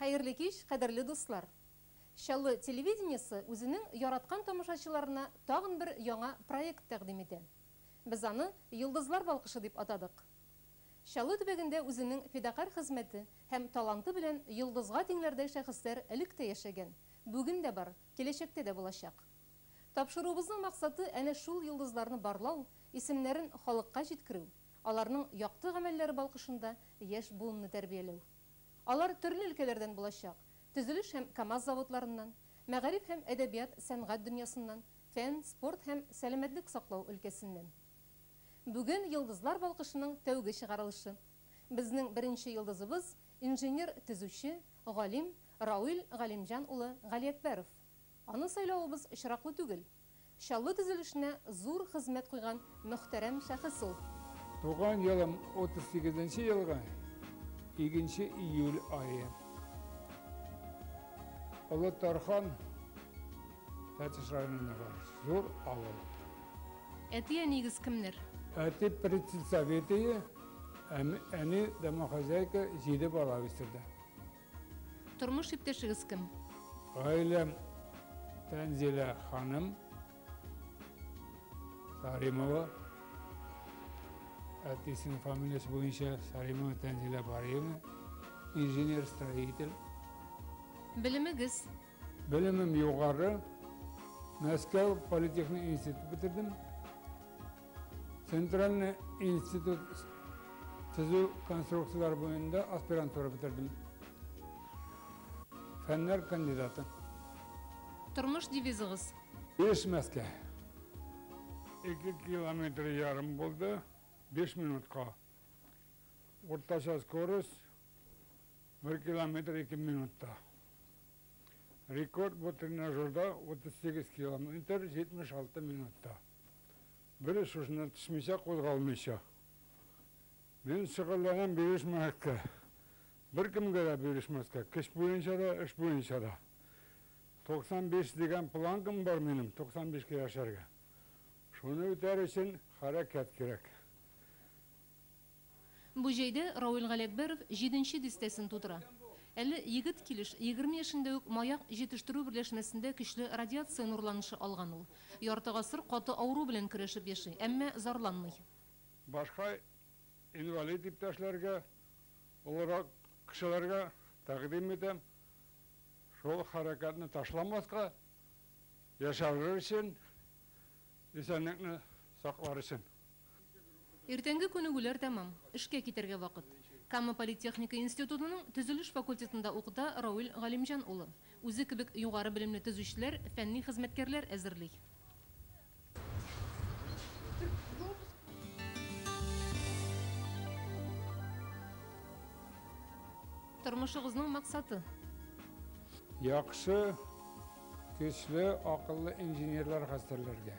Хәерле кич, кадерле дуслар! Чаллы телевидениесе үзенең яраткан тамашачыларына тагын бер яңа проект тәкъдим итә. Без аны Йолдызлар балкышы дип атадык. Чаллы төбәгендә үзенең фидакарь хезмәте һәм таланты белән йолдызга тиңләрдәй шәхесләр элек тә яшәгән, бүген дә бар, киләчәктә дә булачак. Тапшыруыбызның максаты әнә шул йолдызларны барлау, исемнәрен халыкка җиткерү, Аларның якты гамәлләре балкышында яшь буынны тәрбияләү. Алар төрле өлкәләрдән булачак, төзелеш һәм КАМАЗ заводларыннан, мәгариф һәм әдәбият, сәнгать дөньясыннан, фән, спорт һәм сәламәтлек саклау өлкәсеннән. Бүген Йолдызлар балкышының тәүге чыгарылышы. Безнең беренче йолдызыбыз, инженер-төзүче, галим Рауил Галимҗан улы Галиәкбәров. Аны сайлавыбыз очраклы түгел. Чаллы төзелешенә зур хезмәт куйган мөхтәрәм шәхес ул. Туган елым 38 нче елгы икенче июль ае. Олы Тархан Тәтеш районындагы зур авыл. Әти-әниегез кемнәр? Әти председсоветые, әни домохозяйка, җиде бала үстерде. Тормыш иптәшегез кем? Гаиләм Тәнзилә ханым Саримова. Әтисенең фамилиясе буенча Саримова Тәнзилә Бариевна. Инженер-строитель. Белемегез? Белемем югары. Мәскәү политехник институт бетердем. Центральный институт төзү конструкцияләре буенда аспирантура бетердем. Фәннәр кандидаты. Тормыш девизыгыз? Бирешмәскә. Ике километр ярым булды, биш минутка. Уртача скорость, бер километр ике минутта. Рекорд бу тренажерда 38 километр 76 минутта. Берүз шушыннан төшмичә, кузгалмыйча. Мин шөгыльләнәм бирешмәскә. Беркемгә дә бирешмәскә. Көч буенча да, эш буенча да. 95 дигән планкам бар минем, 95 кә яшәргә. Шуны үтәр өчен хәрәкәт кирәк. Бу җәйдә Равил Галиәкбәров җиденче дистәсен тутыра. Әле егет килеш, егерме яшендә үк маяк җитештерү берләшмәсендә көчле радиация нурланышы алган ул. Ярты гасыр каты авыру белән көрәшеп яши, әмма зарланмый. Башка инвалид иптәшләргә, олырак кешеләргә тәкъдим итәм, шул хәрәкәтне ташламаска, яшәрләр өчен, исәнлекне саклар өчен. Иртәнге күнегүләр тәмам. Эшкә китәргә вакыт. Кама политехника институтының төзелеш факультетында укыта Рауил Галимҗан улы. Үзе кебек югары белемле төзүчеләр, фәнни хезмәткәрләр әзерли. Тормышыгызның максаты? Яхшы, көчле, акыллы инженерлар хәстәрләргә.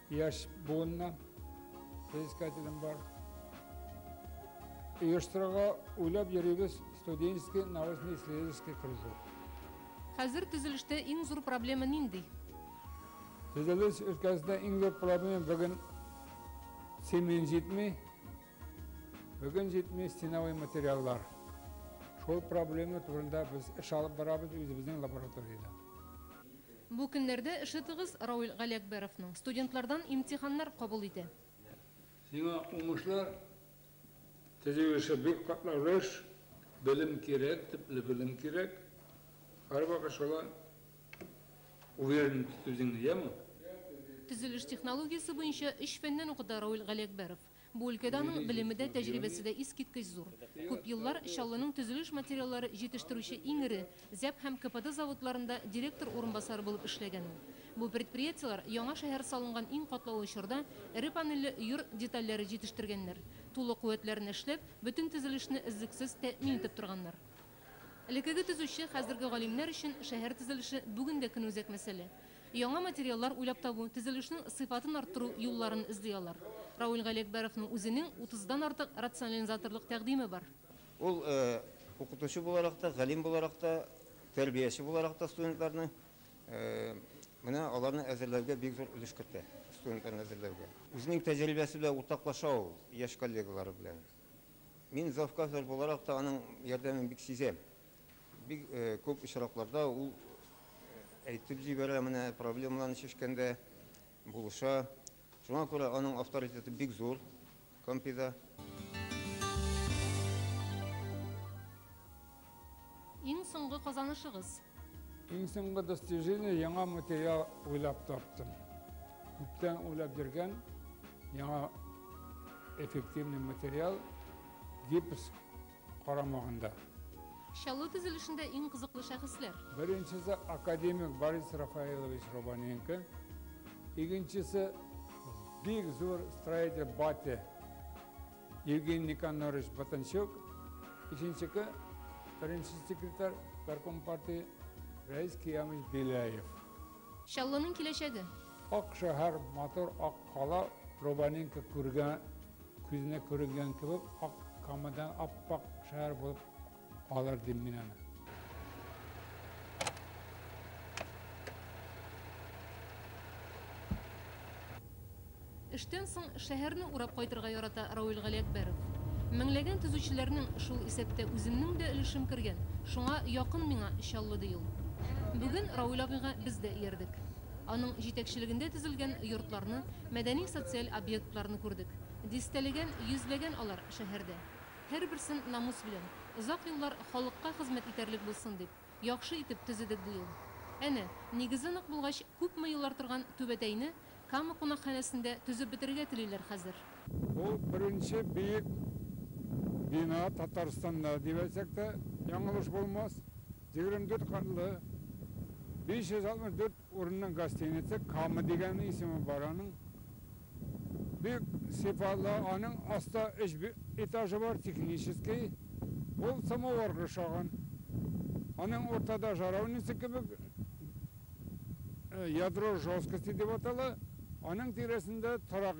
Яшь буынна соискателем бар. Оештырырга уйлап йөрибез студенческий научно-исследовательский кружок. Хәзер төзелештә иң зур проблема нинди? Төзелеш өлкәсендә иң зур проблема бүген цемент җитми. Бүген җитми стеновый материаллар. Шул проблема турында без эш алып барабыз үзебезнең лабораториядә. Бу көннәрдә эше тыгыз Рауль Галиәкбәровның. Студентлардан имтиханнар кабул итә. Сиңа уңышлар! Төзү эше бик катлаулы эш. Белем кирәк, төпле белем кирәк. Һәрвакыт шулай уверенность үзеңне, яме! Төзелеш технологиясе буенча өч фәннән укыта Рауль Галиәкбәров. Бу өлкәдә аның белеме дә, тәҗрибәсе дә искиткеч зур. Күп еллар Чаллының төзелеш материаллары җитештерүче иң эре ЗӘП һәм КПД заводларында директор урынбасары булып эшләгән ул. Бу предприятиеләр яңа шәһәр салынган иң катлаулы чорда эре панельле йорт детальләре җитештергәннәр, тулы куәтләрен эшләп, бөтен төзелешне өзлексез тәэмин итеп торганнар. Элеккеге төзүче, хәзерге галимнәр өчен шәһәр төзелеше бүген дә көнүзәк мәсьәлә. Яңа материаллар уйлап табу, төзелешнең сыйфатын арттыру юлларын эзли алар. Рауль Галиәкбәровның үзенең утыздан артык рационализаторлык тәкъдиме бар. Ул укытучы буларак та, галим буларак та, тәрбияче буларак та студентларны, менә аларны әзерләүгә бик зур өлеш кертә, студентларны әзерләүгә. Үзенең тәҗрибәсе белән уртаклаша ул яшь коллегалары белән. Мин завказлар буларак та аның ярдәмен бик сизәм. Бик күп очракларда ул әйтеп җибәрә, менә проблемаларны чишкәндә булыша. Шуңа күрә аның авторитеты бик зур Кампида. Иң соңгы казанышыгыз? Иң соңгы достижение, яңа материал уйлап таптым. Күптән уйлап йөргән яңа эффективный материал, гипс карамагында. Чаллы төзелешендә иң кызыклы шәхесләр? Беренчесе академик Борис Рафаилович Рубаненко, икенчесе бик зур строитель Батя. Евгений Никонорович Батанчук, икенчеке беренче секретарь горком партии Рәис Киямович Беляев. Чаллының киләчәге. Ак шәһәр, матур ак кала, Рубаненко күргән, күзенә күренгән кебек, ак камыдан ап-ак шәһәр булып Алыр дим мин аны. Эштән соң шәһәрне урап кайтырга ярата Рауил Галиәкбәров. Меңләгән төзүчеләрнең, шул исәптә үземнең дә өлешем кергән, шуңа якын миңа Чаллы, ди ул. Бүген Рауил абыйга без дә иярдек. Аның җитәкчелегендә төзелгән йортларны, мәдәни-социаль объектларны күрдек. Дистәләгән, йөзләгән алар шәһәрдә. Һәрберсен намус белән, озак еллар халыкка хезмәт итәрлек булсын дип, яхшы итеп төзедек быел. Әнә, нигезе нык булгач, күпме еллар торган Түбәтәйне Кама кунакханәсендә төзеп бетерергә телиләр хәзер. Бу, беренче биек бина Татарстанда, дип әйтсәк тә, яңылыш булмас. Егерме дүрт катлы, биш йөз алтмыш дүрт Урынның гостиница Кама дигән исеме бар аның. Бик сыйфатлы, аның аста өч этажы бар, технический. Ул самоварга ошаган. Аның уртада жаровница кебек, ядро жёсткости дип атала, аның тирәсендә торак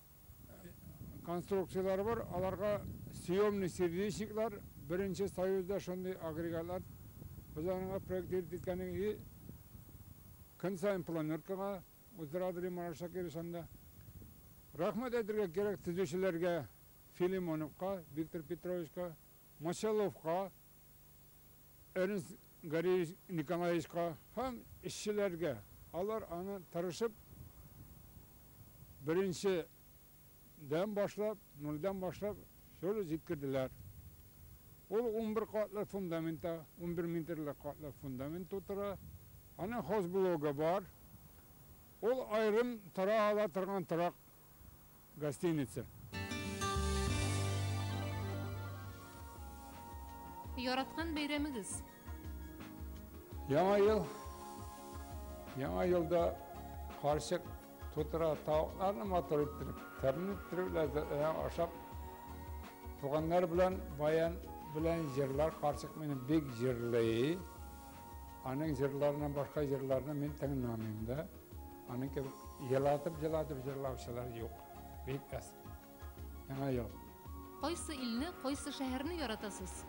конструкцияләре бар, аларга съемный сердечниклар, беренче Союзда шундый агрегатлар Хуҗалыгына проектировать иткәнең и көн саен планеркага уздыралар ди Марат Шакирович анда. Рәхмәт әйтергә кирәк төзүчеләргә, Филимоновка Виктор Петровичка, Мочаловка, Эрнст Гариевич Николаевичка һәм эшчеләргә, алар аны тырышып беренче дән башлап, нульдән башлап шур җиткерделәр. Ул унбер катлы фундаментта, унбер метрлы катлы фундамент тутыра. Аның хозблогы бар. Ул аерым тора ала торган торак гостиница. Яраткан бәйрәмегез? Яңа ел. Яңа елда карчык тутыра тавыкларны матур иттереп, тәмле иттереп, ләззәтләнә ашап, туганнар белән баян белән җырлар карчык мине бик җырлый. Аның җырларыннан башка җырларны мин тыңламыйм да. Аның кебек елатып-елатып җырлаучылар юк. Бик әз. Яңа ел. Кайсы илне, кайсы шәһәрне яратасыз?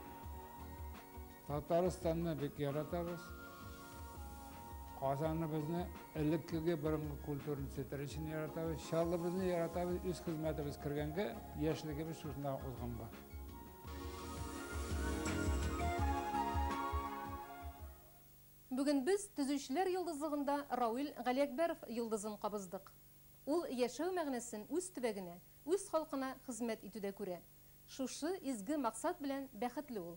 Татарстанны бик яратабыз. Казаныбызны элеккеге борынгы культураны сетер өчен яратабыз. Чаллыбызны яратабыз, үз хезмәтебез кергәнгә яшьлегебез шушында узган бар. Бүген без Төзүчеләр йолдызлыгында Рауил Галиәкбәров йолдызын кабыздык. Ул яшәү мәгънәсен үз төбәгенә, үз халкына хезмәт итүдә күрә. Шушы изге максат белән бәхетле ул.